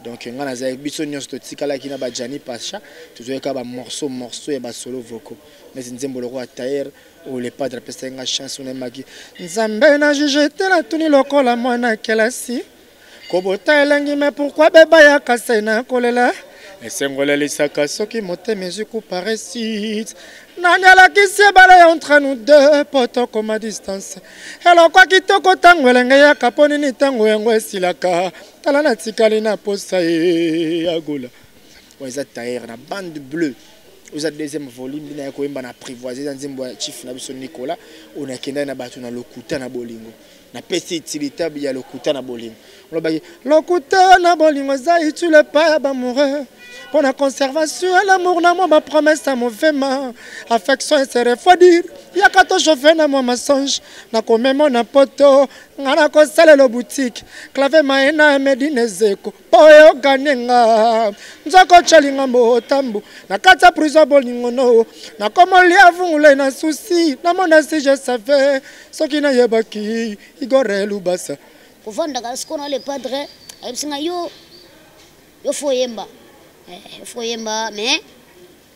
donc ngai nazalaki biso nyonso totikalaki na bajani pacha tozwaki kaka bamorceau morceau ya basolo voko neti nzembo lokola tayer oyo le padre apesaki ngai chance oyo nayemaki nzambe na juge te natuni lokola mwana kelasi kobota elengi me pourkui beba ya kasai na kolela esengo elalisaka soki motema ezwi kuparesite nani alakisi ebale ya entre nous deux mpo tokoma distance elokwa kitoko ntango elenge yaka mpo nini ntango yango esilaka tala natikali na posa ye ya gola oyo eza tailleur na bande bleu oyo eza deuxième volume bina ya koyemba na apprivoise eza nzembo ya chief na biso nicolas oyo nakendaki na bato na lokuta na bolingo napesi utilitabe ya lokuta na bolingo olobaki lokuta na bolingo eza utile epai ya bamoureux mpo na conservation ya lamour na mwa bapromese ya movema affection ese refroidir yaka tochauffe na mwa massange na komemo na poto nga nakosalela butiki clave maye na emedi na ezeko mpo oyokani nga nzoko colinga motambu na kati ya prison bolingo no nakomolia vungula na susi namona si je save soki nayebaki igore lubasa kovandaka sikoyo na le padre ayebisi nga yo yo fo oyemba eh, fo oyemba mais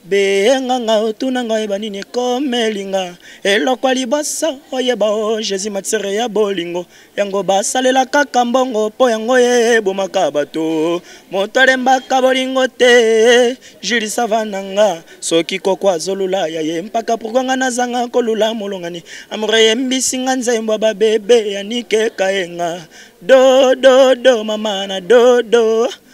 Benga nga otuna nga oyeba nini ekomeli nga Eloko ya liboso oyeba o oh, Jésus matière ya bolingo Yango basalela kaka mbongo po yango ye ebomaka bato Moto alembaka bolingo te Julie sava na nga Soki koko azolula ya ye mpaka pourkua nga nazanga kolula molongani Amour eyembisi nga nzembo ya babebe ya Nike Kayenga Do do do mama na do do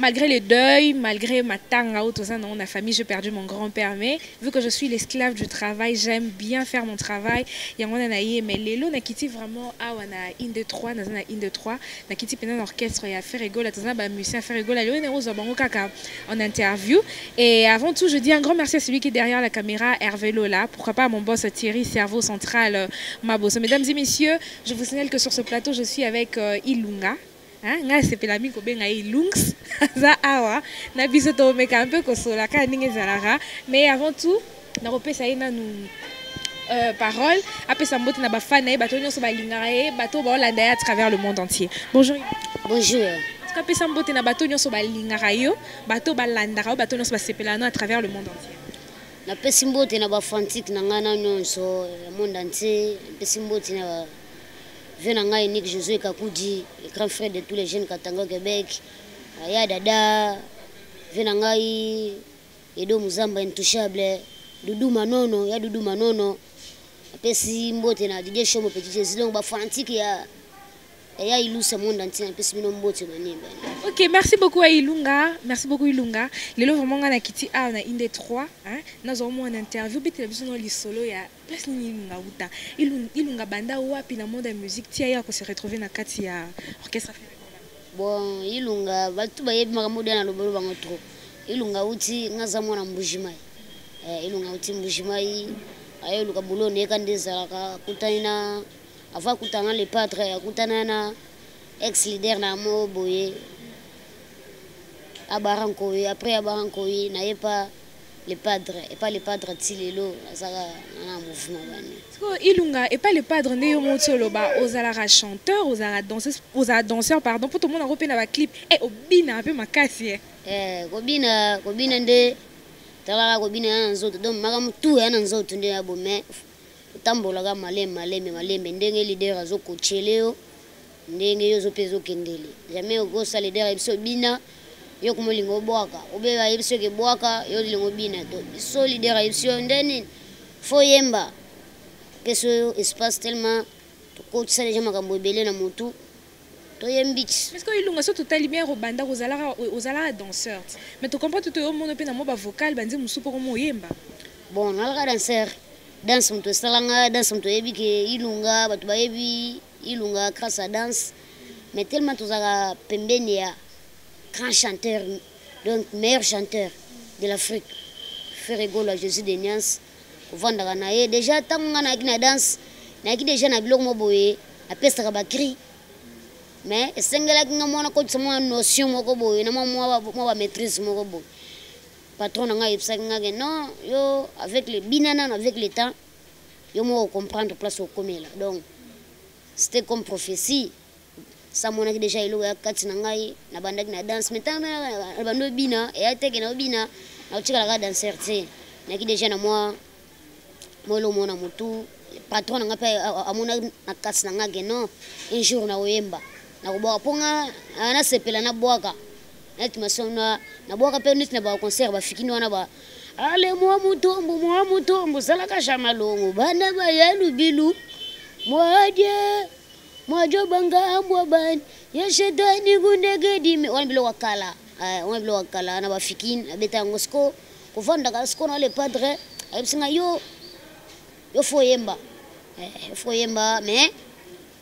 malgré le deuil, malgré ma tanga ou toza dans la famille, j'ai perdu mon grand-père, mais vu que je suis l'esclave du travail, j'aime bien faire mon travail. Yangona na ye, mais lelo na kiti vraiment awa na in de trois, na na in de trois, na kiti pendant l'orchestre ya Ferregola, toza ba musiciens Ferregola, lelo na ozo bango kaka en interview. Et avant tout, je dis un grand merci à celui qui est derrière la caméra, Hervé Lola, pourquoi pas à mon boss Thierry, cerveau central, euh, Maboso. Mesdames et messieurs, je vous signale que sur ce plateau, je suis avec euh, Ilunga, Hein, nga sepela mingi kobenga ye Lungs aza awa na biso tomeka mpe kosola kaka ndenge ezalaka mais avant tout nakopesa ye nanu euh, parole apesa mbote na bafani na ye bato nyonso balingaka ye bato oyo baolanda ye à travers le monde entier bonjour bonjour apesa mbote na bato nyonso balingaka yo bato balandaka yo bato nyonso basepelaka no à travers le monde entier napesi mbote na bafantique na ngai na nyonso ya monde entier napesi mbote na Vieux na ngai Nick Josué Kakudi, le grand frère de tous les jeunes Katanga au Québec. Aya dada, vieux na ngai Edo Muzamba intouchable, Doudou Manono, ya Doudou Manono. Apesi mbote na Didier Shomo Petit Jésus, donc ba fanatique ya ya Ilusa monde entier, apesi bino mbote banimba. Ok, merci beaucoup à Ilunga. Merci beaucoup Ilunga. Lelo vraiment nga na kiti a na inde 3, hein. Nazo mo en interview bete biso no lisolo ya place nini ilunga uta ilunga banda wapi na monde ya musique tia ye akose retrouve na kati ya orchestre bon ilunga bato bayebi makambo dia na lobolo bango trop ilunga uti nga aza mwana mbujimai eh, ilunga uti mbujimai aye oluka bulo neyeka nde ezalaka akutani na avant akutana na le padre akutana na ex leader na yango boye abara nkoyi après abara nkoyi naye pa le padre epa le padre ti lelo nazaka na mouvement bani sikoyo ilunga epa le padre nde yo moti oloba ozalaka chanteur ozalaka danseuse ozala danseur pardon mpo tomonango mpe na baclip e eh, obina mpe makasi e eh. eh, kobina kobina nde talaka kobina ya na nzoto donc makambo tu ya na nzoto nde ya bo mais otambolaka malembe malembe malembe ndenge leader azokochele yo Ndenge yo zo pe zo kendele. Jamais oko sa leader yebiso bina. Yo kuma olinga obwaka. Obe ba yebiso ke bwaka yo olinga obina. To so leader yebiso nde nini? Fo yemba. Peso yo espace tellement ko tsa deja makambo ebele na mutu. To yembi. Est-ce que ilunga so totali bien robanda ko zalaka o zalaka danseur. Mais to comprend tout yo mono pe na mo ba vocal ba nzembo mususu poko mo yemba. Bon, nalaka danseur. Danse mutu esalanga, danse mutu yebi ke ilunga batu ba yebi. Ilunga grâce à danse mais tellement tozalaka pembeni ya grand chanteur donc meilleur chanteur de l'Afrique Ferre Gola Jésus de Niance kovandaka na ye déjà ntango ngai nayaki na danse nayaki déjà na biloko moko boye napesaka bacri mais esengelaki ngai mwana kotisa mwa notion moko boye na mwa bamaîtrise moko boye patron na ngai ayebisaki ngai ke non yo avec le bina nano avec le temps yo moko comprendre place okomela donc c'était comme prophétie sa monaki déjà eloko ya kati na ngai nabandaki na danse mais ntango nabandi obina eya teke na obina nakotikalaka danser te naki déjà na mwa mwa eloko moko na motu patron na ngai mpe amonaki na kati na ngai ke non un jour nakoyemba nakobwaka mpo ngai nasepela nabwaka nati mason na nabwaka mpe neti na baconcert bafikini wana ba ale mwa mutombo mwa mutombo zalaka ja malongo bana baya lubilu mwaje mwajo bangambwa bani ya shetani kundegedime wana biloko ya kala eh, wana biloko ya kala na bafikini abeta yango siko kovandaka siko na le padre ayebisi ngai yo yo fo oyemba eh, fo oyemba mais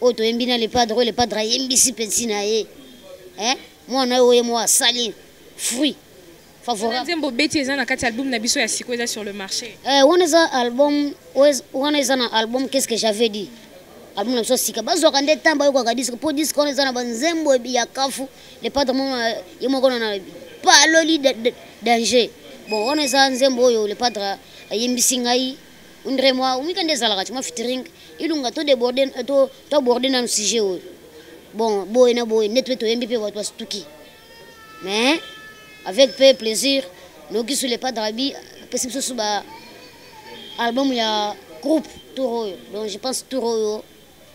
oyo toyembi na lepadre oyo lepadre ayembisi mpensi na ye eh? mwana oyo oye mwa asali fruit favorablenzembo obeti eza na kati album na biso ya siko eza sur le marché eh, wana eza album wana eza na album qu'est ce que j'avais dit album na biso sika bazwaka nde ntango bayokaka diske mpo diske wana eza na banzembo ya kafu lepadre moko ye moko na paloli danger bon wana eza nzembo oyo lepadre ayembisi ngai ondre mwa omika nde ezalaka ti mwa fitring ilunga to deborde to to aborde nanu sujet oyo bon boye na boye neti mpe toyembi mpe bato basutuki mais avec mpe plaisir noki sur le pas drabi apesi biso su ba album ya groupe tour oyo donc je pense tour oyo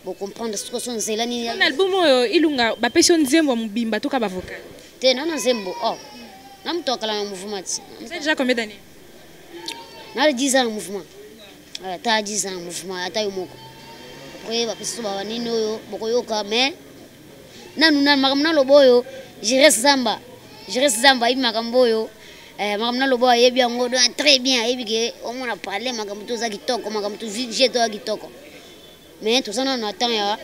bocomprendre sikoyo so nzela nini na album oyo ilunga bapesi yo nzembo ya mobimba toka bavoka te nana nzembo o oh. na moto akala na mouvement ti déjà combien d'année nali 10 ans na mouvement ata 10 ans na mouvement ata yo moko oye bapesi so bawa nini oyo bokoyoka mais nanu nanu makambo naloba oyo jires zamba jires zamba ayebi makambo oyo Eh, makambo naloba ayebi yango très bien ayebi ke omona parle makambo to oza kitoko makambo to vie to oza kitoko mais toza nano na temps ya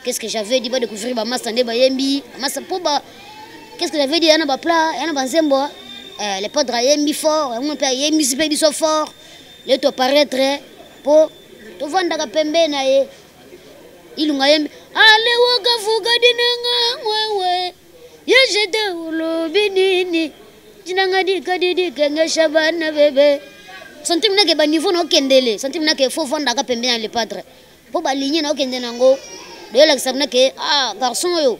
qu'est ce que j'avais dit badécouvrir bamasta nde bayembi bamasta mpo ba qu'est ce que j'avais dit ya na bapla ya na banzembo eh, le padre ayembi fort yango mpe ayembisi mpe biso fort le toparaître mpo tovandaka pembe na ye ilunga yembi alewokavuka dinanga wewe Yo jete olobi nini tinanga dikadidikengesha bana bebe santime nake baniveau na okendele santime nake fo fandaka pembe na lepadre mpo baligne na okende na yango doyelakisa nake ah garçon oyo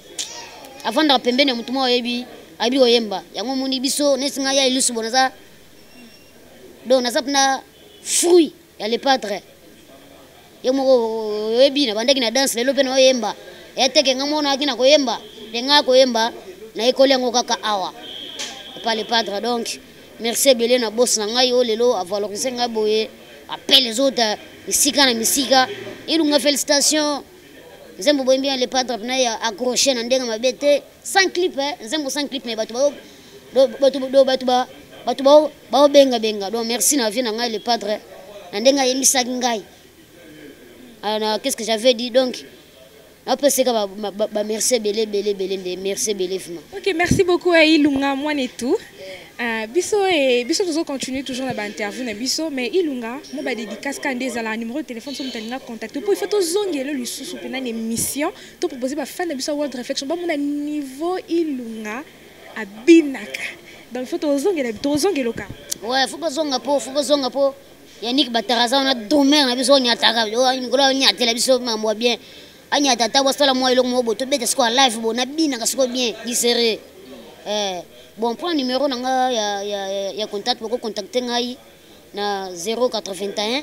afandaka pembeni ya motu mwa oyebi ayebi koyemba yango omoni biso neti ngai ya ilusu bo naza donc naza mpena fruit ya le padre ye moko oyebi na bandaki na danse lelo mpe na oyemba eteke nga moko nayaki na koyemba nde ngai koyemba nayekoli yango kaka awa epa le padre donc merci ebele na bosi na ngai oyo lelo avalorise ngai boye apele ezota misika na misika ilunga félicitation nzembo boyembi ya le padre pena ya accroche na ndenge mabe te sans clip eh? nzembo sans clip me bato bayo bato baobengabenga donc merci na vie na ngai le padre na ndenge ayembisaki ngai ah, na qu'est ce que j'avais dit donc napeseka bamerci ebele ebele ebele nde merci ebele vima ok merci beaucoup eh, ilunga mwana etu Uh, biso et eh, biso toujours continuer toujours na ba interview na biso mais ilunga mo ba dédicace ka nde ezala numéro de téléphone somo talinga contacter po il faut tozongela lisusu pena na émission to proposer ba fan na biso world reflection ba mona niveau ilunga abinaka donc faut tozongela tozongeloka ouais faut bazonga po faut bazonga po yannick bataraza wana domer na biso onyataka oh, mikolo onyatela biso mambo ya bien anyata ata bosala mwa eloko moko bo tobeta sikoyo live bo nabinaka sikoyo bien disere eh, bon mpo na numero na nga ya, ya, ya contact bokocontacte ngai na 081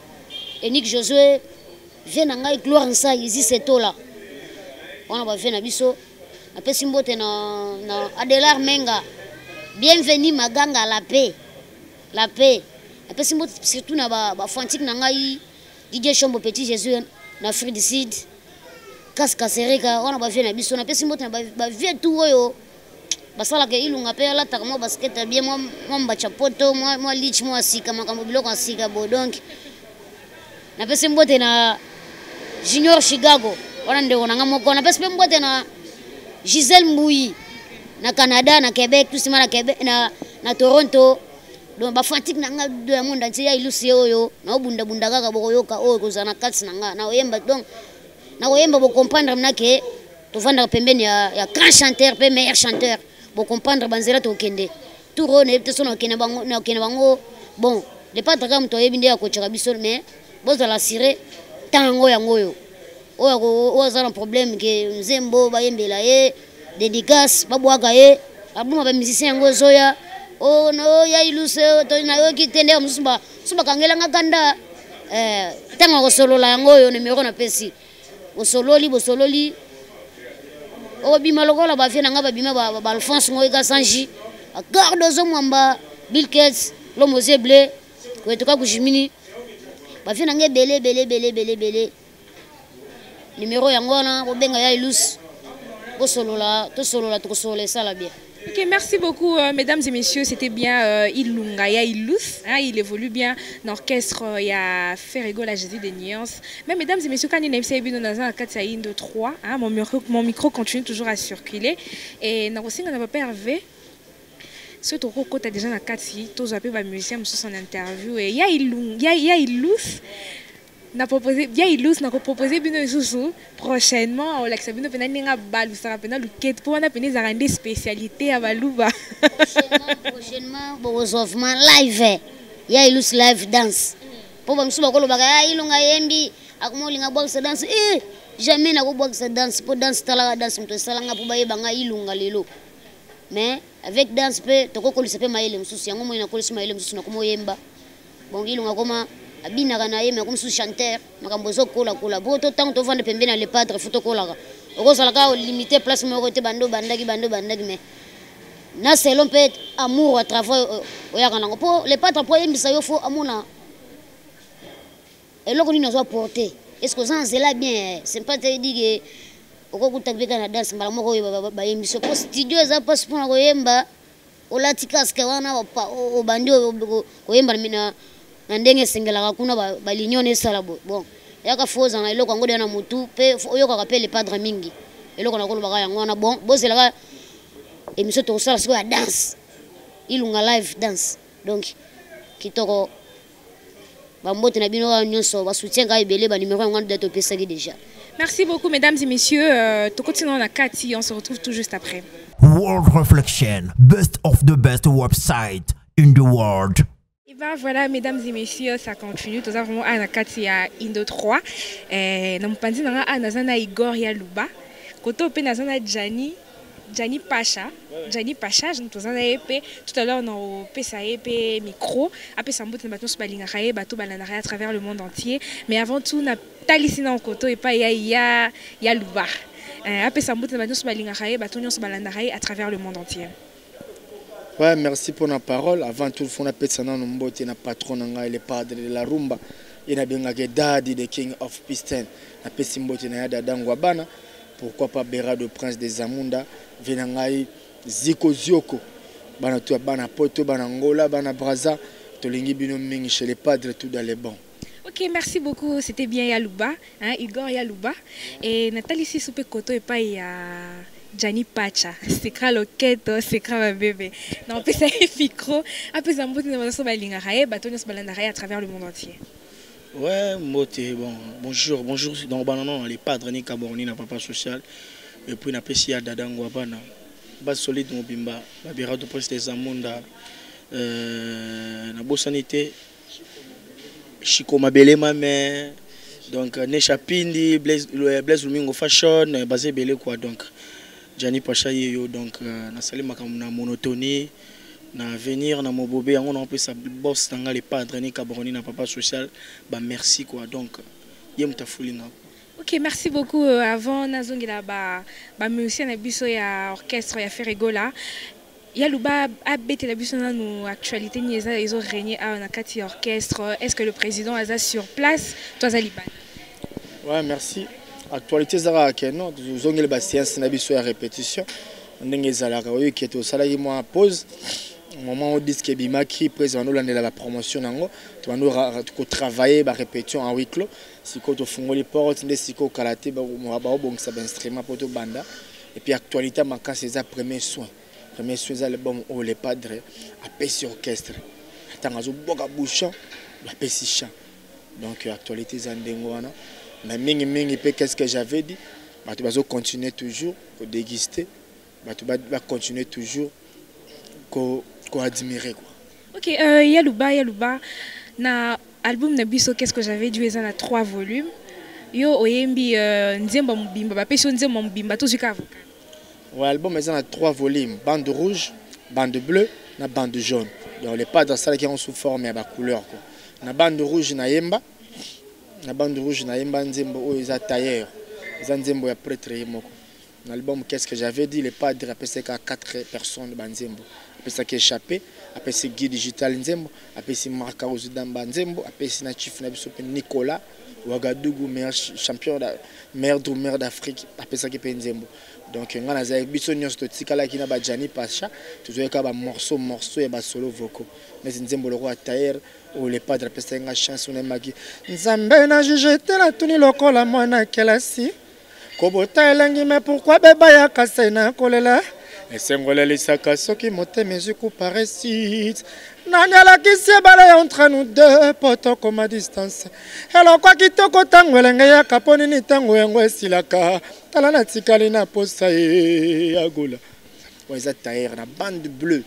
enik josue vie na ngai gloire nsai ezise tola wana bavie na biso napesi mbote na, na adelar menga bienvenu maganga la paix la paix napesi mbote surtout na bafantique ba na ngai didie chombo petit jésus na afrique du sud kasi kasereka wana bavie na biso napesi mbote na bavie ba tout oyo basalaka ilunga mpe alataka mwa baskete ya bie mwa mbacha poto mwa lich mwa ya sika makambo biloko ya sika bo donk napesi mbote na junior chicago wana ndeko na ngai moko napesi mpe mbote na gisele mbuyi na canada na québec tout sima na, québec, na, na toronto donc bafantik na ngai do ya monde antie ya ilusi oyo naobundabunda kaka bokoyoka oyo ekozala na kati na ngai naoyemba donc na koyemba bo comprendre mna ke tovandaka pembeni ya, ya grand chanteur mpe meilleur chanteur bo comprendre banzela tokende tour oyo nayebi te so nakende bango nakende bango bon le patre kaka moto ayebi nde akocoka biso mais bozala assure ntango yango oyo oyo aza na problème ke nzembo bayembela ye dedicace babwaka ye aboma ba musicien yango ezoya o oh, na o oh, ya iluse oh, to na yo kite nde mususu ba mususu bakangela nga kanda eh tanga kosolola yango yo numero na pesi bosololi bosololi obima lokola ba vie na nga babima ba, ba, ba Alphonse ngoyi kasanji garde ozo mwamba Bill Gates lomoze bleu kwetuka kujimini ba vie na nga ebele ebele ebele ebele ebele Numéro yango wana bobenga ya Ilus. Bosolola, tosolola, tokosolola esala bien. Ok, merci beaucoup, euh, mesdames et messieurs. C'était bien euh, Ilunga ya Ilus. Hein, il évolue bien dans l'orchestre euh, ya Ferrego, la Jésus des nuances. Mais mesdames et messieurs, quand il est venu dans un 4 Indo 3, hein, mon, micro, mon micro continue toujours à circuler. Et dans le signe, on n'a pas Hervé. soki tokokota déjà na kati tozwa mpe bamusicien mosusu en interview ya ilus na propose bia ilus na kopropose bino lisusu prochainement olakisa bino mpena ndenge abalusaka mpena lukete mpo wana mpena ezalaka nde spécialité ya baluba prochainement bokozwa vraiment live ya ilus live dance mpo bamosusu bakolobaka ya ah, ilonga yembi akoma olinga bwakisa danse e eh, jamais nakobwakisa danse mpo danse talaka danse moto esalanga mpo bayeba ngai ilonga lelo mais avec danse mpe tokokolisa mpe mayele mosusu yango moi nakolisi mayele mosusu nakomi oyemba Bon Ilunga akoma abinaka na ye mais akomi susu chanteur makambo ezokola kola po to ntango tovanda pembe na le padre fo tokolaka okozala kaka olimite place moko te bando bandaki bando bandaki mais na selon mpe amour ya travail oyaka nango mpo le padre mpo ayembisa yo fo amona eloko nini azwa porte est ce que oza na nzela bien sempa te edike okokuta mpe kaka na danse mbala moko oyo bayembisi mpo studio eza mpasi mpona koyemba olati casque wana obandi koyemba na na ndenge esengelaka kuna baunion esala boye bon yaka fo ozanga eloko yango deya na motu mpe oyokaka mpe lepadre mingi eloko nakolobaka yango wana bon bozelaka émission tokosala sikoyo ya danse ilunga live danse donc kitoko bambote na bino wana nyonso basoutien ngai ebele banimero yango wana date opesaki déjà merci beaucoup mesdames et messieurs euh, tokoti nao na kati on se retrouve tout juste après world reflection best of the best website in the world Et eh ben voilà, mesdames et messieurs, ça continue. Nous avons Anna Katia Indo 3. Nous avons Anna Zana Igor Yaluba. Koto Penazana Djani. Gianni Pacha, Gianni Pacha, toza na ye mpe tout à l'heure na opesa ye mpe micro apesa mbote na bato nyonso balingaka ye bato balandaka ye à travers le monde entier mais avant tout na talisi na nkoto epai ya ya ya luba eh, apesa mbote na bato nyonso balingaka ye bato nyonso balandaka ye à travers le monde entier Ouais, merci pour la parole. Avant tout, il faut appeler nanu mbote na patron na ngai le padre de la rumba et na bengake Daddy the king of piston. Na pesi mbote na ya dada ngwabana. Pourquoi pas Berado prince des Amunda, vena ngai Ziko Zioko. Bana tu bana Poto, bana Angola, bana Brazza, tolingi bino mingi chez les padres tout dans les bons. Ok, merci beaucoup. C'était bien Yaluba, hein, Igor Yaluba. Et Nathalie Sissou pe koto et pas il y a Gianni Pacha. C'est cra loketo, c'est cra ma bébé. Non, pe ça est micro. Après ça, mbote na baso ba linga rae, bato nyos balanda rae à travers le monde entier. Ouais, mbote, bon, bonjour, bonjour. Donc, bah, non, non, les padres, ni Caborni, na papa social. Et puis, na pesi ya dada ngwabana. Bas solide mobimba, babira du prince des Amunda. Euh, na bosani te, Chico Mabele Mame, donc euh, Nesha Pindi, Blaise, euh, Blaise Lumingo Fashion, euh, basé belé quoi donc. Gianni Pacha yo donc euh, na sali makambo na monotonie na venir na mobobe yango na opesa boss na nga le padre ni cabroni na papa social ba merci quoi donc ye moto afuli nga Ok, merci beaucoup. Euh, avant, nazongela ba, ba musiciens na biso ya orchestre ya Ferregola. Ya Luba abetela biso nanu actualité ni eza ezo régner awa na kati ya orchestre. Est-ce que le président aza sur place to aza libanda? Ouais, merci. Actualité ezaka ke non tozongeli ba séance na biso ya répétition ndenge ezalaka oyo ke tosalaki mwa pause moment oyo disque ebimaki mpe ezala nolandela bapromotion na yango tobandi kotravaille barépétition en huis clos sikoyo tofungoli porte nde sikoyo kala te baobongisa bainstrument mpo tobanda Et puis actualité makasi eza premier soin. Premier soin eza album oyo le padre apesi orchestre. Atanga zo boka bouchon apesi chant. Donc euh, actualité eza ndenge wana. Mais mingi mingi pe qu'est-ce que j'avais dit? Bato bazo continuer toujours ko déguster. Bato ba, ba continuer toujours ko ko admirer quoi. Ok, euh, Yaluba, Yaluba, na album na biso Qu'est-ce que j'avais dû eza na 3 volumes. Yo oyembi euh, nzembo mobimba, ba pesi nzembo mobimba tozwi ka avocat. Ouais, album eza na 3 volumes, bande rouge, bande bleue na bande jaune. Donc les padres ça qui ont sous forme ya ba couleurs quoi. Na bande rouge na yemba, na bande rouge na yemba nzembo oyo eza tailleur. Eza nzembo ya prêtre ye moko. na libamu qu'est-ce que j'avais dit le padre apesaki kaka quatre personnes banzembo apesaki échappe apesi guy digital nzembo apesi marc auzidamba nzembo apesi na chief na biso mpe nicolas wagadugu meilleur champion meilleur drumeur d'afrique apesaki mpe nzembo donc ngai nazalaki biso nyonso totikalaki na bajani pacha tozwaki kaka bamorceau morceau ya basolo vocaux neti nzembo lokola tayer oyo le padre apesaki ngai chance onayemaki nzambe na juge te natuni lokola mwana kelasi kobota elengi me pourkui beba ya kase na kolela esengo elalisaka soki motema ezwi kuparesite nani alakisi ebale ya entre nous deux mpo tokoma distance eloko ya kitoko ntango elenge yaka mpo nini ntango yango esilaka tala natikali na posa ye ya gola oyo eza tailleur na bande bleue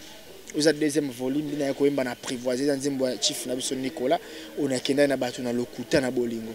oza deuxième volume bino ya koyemba na apprivoise eza nzembo ya chief na biso nicolas oyo nakendaki na bato na lokuta na bolingo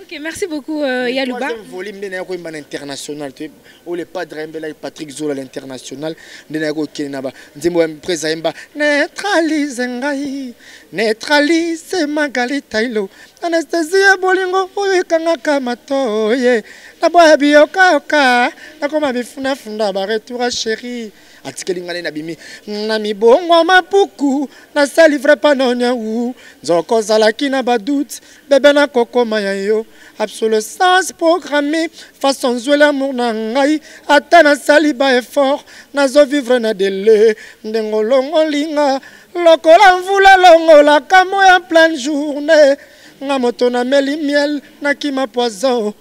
Ok, merci beaucoup euh, Yaluba. Troisième volume nde naye koyemba na international te oyo le padre ayembelaki Patrick Zola l'international nde naye kokende na ba nzembo ya presa ayemba neutralise ngai neutralise Magali Tailo anesthésie ya bolingo oyo ekangaka matoye naboya biyokayoka nakoma bifunafunda baretour ya chérie atikeli ngai nde nabimi na mibongo mapuku nasali vrai panoniau nzoko ozalaki na badoute bebe nakokoma ya yo absolescence programme façon zweli amour na ngai ata nasali ba effort nazovivre na dele ndenge olongolinga lokola mvula elongolaka mo ya pleine journée nga moto nameli miel nakima poison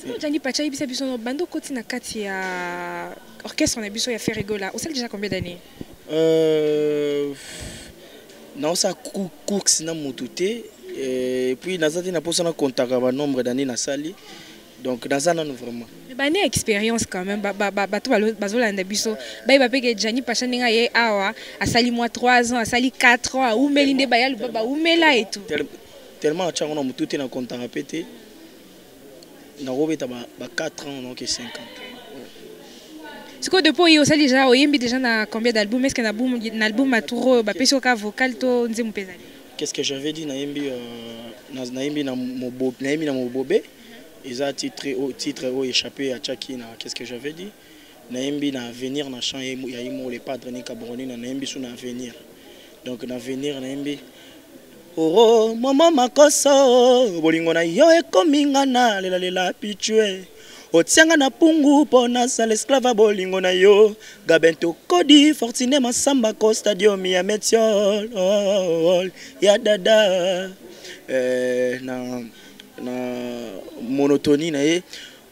Sikoyo Djangi Pacha yebisa biso no bando koti na kati ya orchestre na biso ya Ferregola osali déjà combien d'années euh, naosala course na motu te euh, puis naza te na mposa na contaka banombre d'année nasali donc naza nano vraiment bane expérience quand même bato bazolanda biso bayeba mpe ke jani pacha ndenge aye awa asali mwa 3 ans asali 4 ans aumeli nde baya luba baumela etu tellement atyango na motu te na contaka mpe te nakobeta ba, ba 4 ans donc 5 ans sikoyo depuis oye osali deja oyembi deja na combien d'album est-ce que na boum na album maturo ba pesi oka vocal to nzembo mpeza qu'est-ce que j'avais dit nayembi euh, na nayembi na mobobe nayembi na mobobe eza titre au titre au échappé à Chaki na qu'est-ce que j'avais dit nayembi na avenir na chant ya imo le padre nika boronina nayembi su na avenir donc na avenir nayembi oro momo makoso bolingo na yo ekomi nga na lelalela pichue otianga na pungu mpo nasala esclava bolingo na yo gabento kodi fortune masamba ko stadium ya metiol oh, oh, oh, ya dada eh, na, na monotonie na ye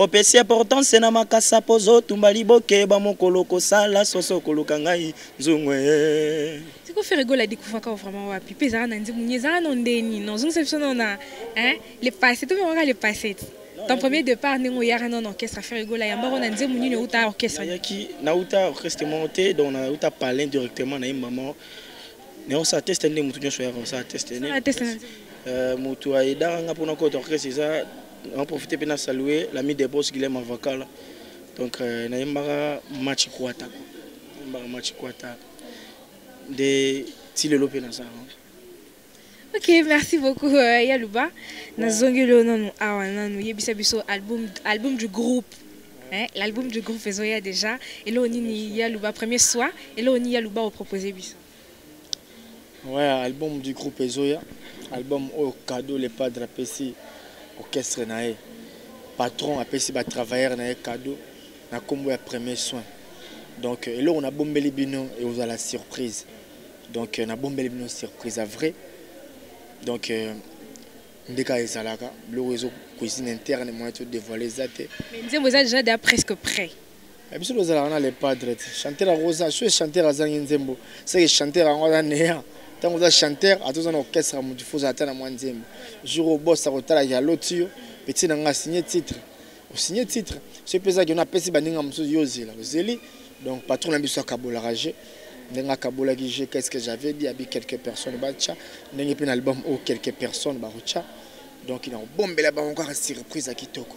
Opesi importance na makasa pozo tumba liboke ba mokolo kosala soso koluka ngai nzungu eh. Siko Ferre Gola découvre ka vraiment wapi pe zara na nzimu nye zara no ndeni non zungisa biso non na hein le passé to mekaka le passé ton premier départ ndenge oyaka non orchestre Ferre Gola yamba ko na nzimu nini outa orchestre yaki na outa orchestre mo te donc na outa parler directement na maman ne on sa teste ndenge mutu nyoso yaka on sa teste ne teste euh mutu ayedaka nga pona ko orchestre eza na profite mpe na salue l'ami de bos guilem avakala donc euh, nayembaka match kwata nayembaka match kwata nde ti lelo mpe naza ok merci beaucoup euh, yaluba nazongeli yo nanu awa nanu yebisa biso album, album du groupe hein? l'album du groupe ezoya déjà eloo nini yaluba premier soir eloo nini yaluba opropose biso Ouais, album du groupe Ezoya, album au cadeau le padre apesi orchestre nae. Patron apesi ba travailleurs nae cadeau na combo ya premier soin. Donc euh, eloko na bombeli bino et vous la surprise. Donc euh, na bombeli bino surprise à vrai. Donc euh, ndeka ezalaka, biloko ezo cuisine interne moyen to dévoiler zate. Mais nzembo eza déjà presque prêt. Eh, biso tozalaka na le padre te chanteur akoza soki chanteur azangi nzembo seke chanteur yango aza neya ntango oza chanteur ata oza na orchestre motu fo ozala ata na mwa nzembo jour oyo bos akotalaki aloti yo petit na ngai asigne titre osigne titre soki mpe ezaki ono apesi baninga mosusu yo ozela ozeli donc patron na biso akabolaka je ndenge akabolaki je qu'est ce que j'avais dit abi quelques personnes batya ndenge mpe na album oyo quelques personnes bakotya donc nakobombela bango kaka surprise ya kitoko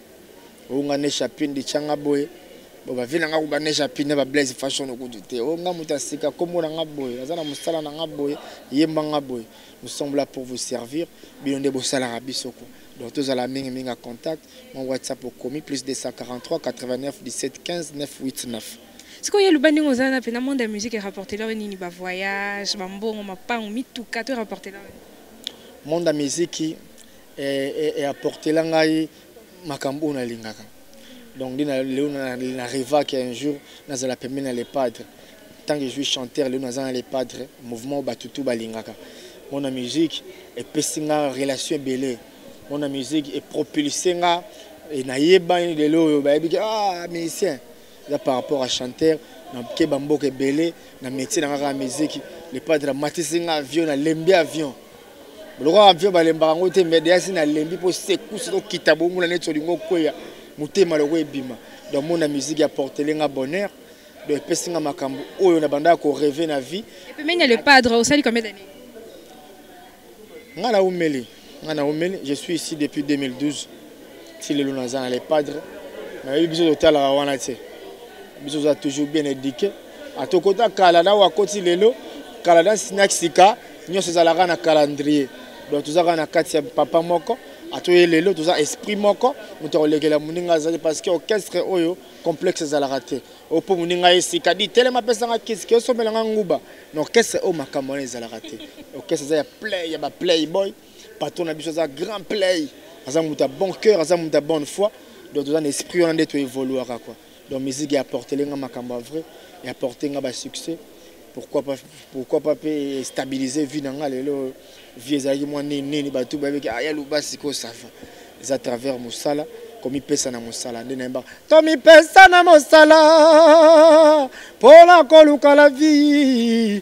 onga ne chapine di changa boye bo ba vina nga ko ba ne chapine ba blaze fashion ko dite onga muta sika kombo na nga boye aza na musala na nga boye yemba nga boye nous sommes là pour vous servir bino nde bo sala biso ko donc tous à la mingi mingi contact mon whatsapp au commis plus 243 89 17 15 989 sikoyo ye luba ndenge oza na mpe na monde ya musique erapportela yo nini bavoyage bambongo mapango mituka to erapportela yo monde ya miziki e, e apportela ngai makambo oyo nalingaka donc nde lelo na revaki un jour nazala pembeni na le padre ntango ezwi chanteur lelo naza na le padre mouvement bato tu balingaka mona musique epesi nga relation ebele mona musique epropulse nga e nayebani lelo oyo bayebi ke ah musicien eza par rapport à chanteur nakeba mboka ebele na métier na nga kaka musique le padre amatisi nga avion nalembi avion lokola mpio balembaka yango te mais deasi nalembi mpo sekusi tokita bonguna neti olingi okweya motema loko ebima donc mona musique ya portele nga bonheur donc epesi nga makambo oyo nabandaka koreve na vie epemeni ya le padre osali combien d'année nga naumeli nga naumeli je suis ici depuis 2012 ti lelo naza na le padre nayebi biso totalaka wana te biso oza toujours bien éduqué atokota kala na wakoti lelo kala na sika nyonso ezalaka na calendrier donc toza kaka na kati ya papa moko atoye lelo toza esprit moko moto akolekela moninga azali parce que orchestre oyo complexe ezalaka te oyo mpo moninga ye sika di telema apesanga kiski osombelanga nguba na orchestre oyo makambo wana ezalaka te orchestre eza ya play ya baplay boy patron na biso aza grand play aza moto ya bon cœur aza moto ya bonne foi donc toza na esprit wana nde toevoluaka quoi donc musique ya portele nga makambo ya vrai ya porte nga basuccès pourquoi pas pourquoi pas mpe stabiliser vie na nga lelo vie ezalaki mwa nini nini bato bayebeki aya ah, luba sikoyo sava eza travers mosala komipesa na mosala nde nayembaka tomipesa na mosala mpo na koluka la vie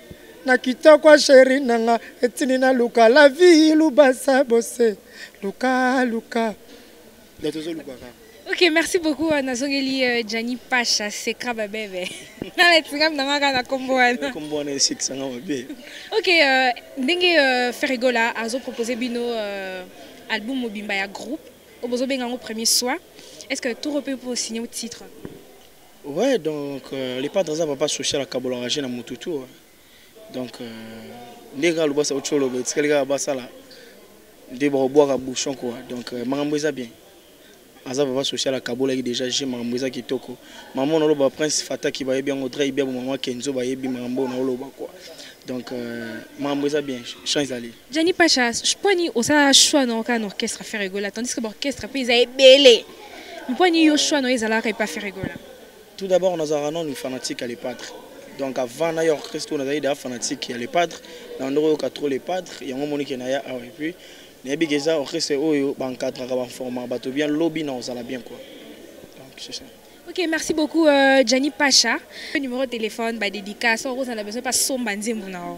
na kitoko sheri na nga etindi na luka la vie lubasa bose luka luka nde tozoluka kaka ok merci beaucoup euh, nazongeli euh, jani pasha sekra babebe nana etingami na ngaka na kombo wana kombo wana esekisanga mabe ok euh, ndenge ferregola azopropose bino album mobimba ya groupe oyo bozobenga yango premier soin est ce que toro mpe mpo osigne titre Ouais, donc euh, le padre aza papa social akabola engagé na mutu tout. hein. Donc euh, ndenge kaka lobasa ocholo ba etikali kaka basala nde bakobwaka bouchon quoi. Donc euh, makambo eza bien. Aza papa social akabolaki déjà je makambo eza kitoko. Maman oloba prince fataki bayebi yango dre ibia bo maman kenzo bayebi makambo na oloba quoi. Donc euh, makambo eza bien. Chant ezali. Gianni Pacha, je pense ni osala choix na oka na orchestre Ferre Gola tandis que ba orchestre pe eza ebele. Pourquoi ni yo choix no ezalaka epa Ferregola? Tout d'abord nazalaka nanu fanatique ya Le Padre. Donc avant na ya orchestre oyo nazalaki deja fanatique ya Le Padre, na bandaki koyoka trop Le Padre, yango omoni ke naya awa. Et puis nayebi ke eza orchestre oyo ba encadraka, ba informaka bato bien, lobi nakozala bien quoi. Donc c'est ça. Ok, merci beaucoup euh, Gianni Pacha. Numéro de téléphone, ba dédicace, okozala besoin pa somba nzembo na yo.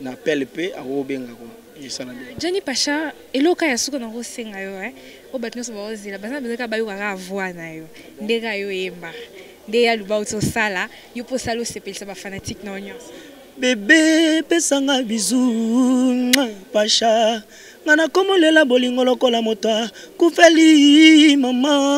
na appel pe akobenga ko esala bien Johnny Pacha eloka ya suka na kosenga yo hein o bato nyonso baozela baza besoin ka bayoka ka voix na yo ndenge ayo yemba nde ya luba ozo sala yo po sala osepelisa ba fanatique na yo nyonso bebe pesanga bisous Pacha nga nakomolela bolingo lokola moto akufeli mama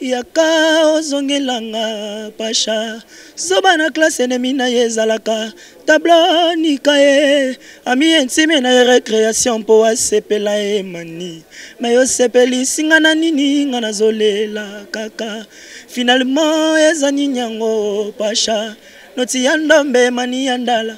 yaka ozongelanga pasha zoba na klase enemi na ye ezalaka tablo nika ye ami intime na ye recreation mpo asepela ye mani me osepelisi nga na nini nga nazolela kaka finalement eza nini yango pasha noti ya ndombe mani ya ndala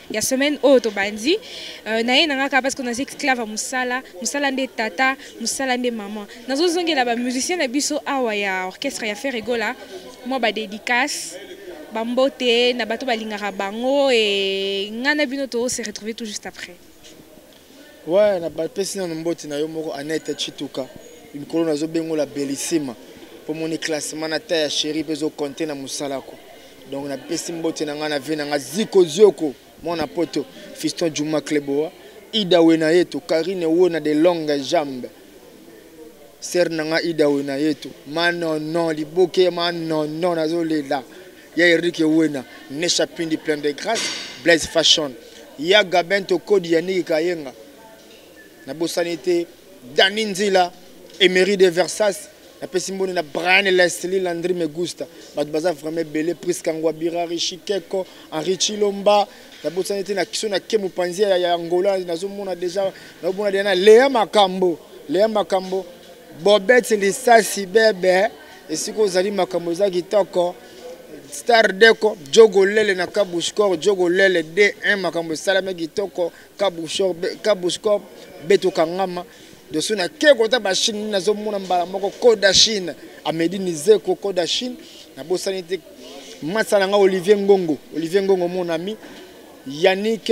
ya semaine oyo tobandi euh, naye na ngaka parce que naza esclave ya mosala mosala nde tata mosala nde mama nazozongela bamusicien na biso awa ya orchestre ya ferre egola mwa badédicace bambote na bato balingaka bango e ngai na bino tose retrouve tout juste après Ouais, na pesi nanu mboti na yo moko Annette Chituka. Mikolo nazo bengola Bellissima. Po moni classement na ta ya chérie pezo compter na musala ko. Donc na pesi mboti na nga na vie na nga Ziko Zioko, mwana poto, Fiston Juma Kleboa, Ida Wenayeto, Karine Wona de longue jambe. Sœur na nga Ida Wenayeto, ma non non liboke ma non non nazo lela. ya Eric Wena, Nesha Pindi plein de grâce, Blaise Fashion, ya Gabin Tokodi ya Niki Kayenga. Na bosani te Dani Nzila, Emery de Versas, na pesi mboni na Brian Leslie Landry Megusta. Bato baza vraiment ebele Prisca Ngwabira, Rishi Keko, Henri Chilomba, na bosani te na kiso na Kemu Panzia ya, ya Angola, nazomona deja nazomona deja na Lea Makambo, Lea Makambo, Bobette Lisasi Bebe. esika ozali makambo eza kitoko star deko jogo lele na kabushkor jogo lele d1 makambo esalami kitoko kabushkor beto kangama doso na ke kota bachine nini nazomona mbala moko koda chine amedi nizeko koda chine nabosani te masa na ngai olivier ngongo olivier ngongo mon ami yannick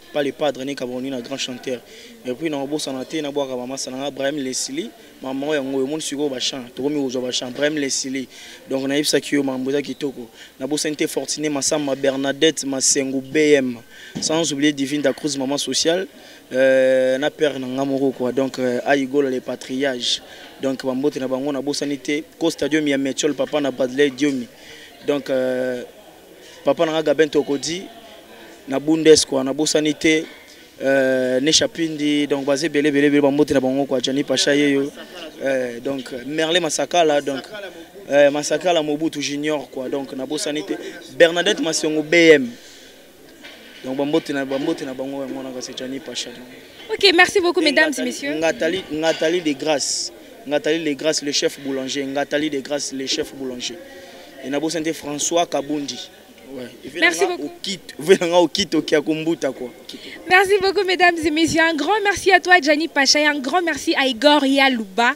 pas le padre ne kabroni na grand chanteur et puis na obosana te na bwaka mama sana nga Brahim Leslie mama oyo yango omoni siko ba chant tokomi kozwa ba chant Brahim Leslie donc na yebisa ki yo mambo eza kitoko na bosani te Fortuné Massamba Bernadette Masengu BM sans oublier Divine da Cruz maman sociale euh, na père na nga moko quoi donc euh, Ayigola le patriage donc ba mbote na bango na bosani te Costa Diomi ya Metchol papa na Bradley Diomi donc euh, papa na nga Gabin Tokodi na Bundes quoi na bosani te euh, Nesha Pindi donc baze bele bele bele bambote na bango quoi Johnny Pacha yeyo euh, donc Merle Masakala donc euh, Masakala Mobutu Junior quoi donc na bosani te Bernadette Masongo BM donc bambote na bambote na bango yango wana kasi jani pacha ok merci beaucoup mesdames et messieurs ngatali ngatali de grâce ngatali de grâce le chef boulanger ngatali de grâce le chef boulanger et na bosa nte françois kabundi Ouais. Merci beaucoup. Merci beaucoup, mesdames et messieurs. Un grand merci à toi, Gianni Pacha, et un grand merci à Igor Yalouba.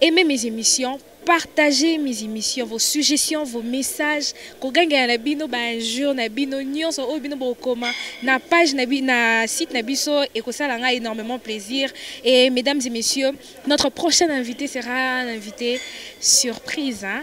Aimez mes émissions, partagez mes émissions, vos suggestions, vos messages, kogangela na bino ba injures na bino nyonso oyo bino bokoma na page na bi, na site na biso ekosala nga énormément plaisir et mesdames et messieurs, notre prochain invité sera un invité surprise hein?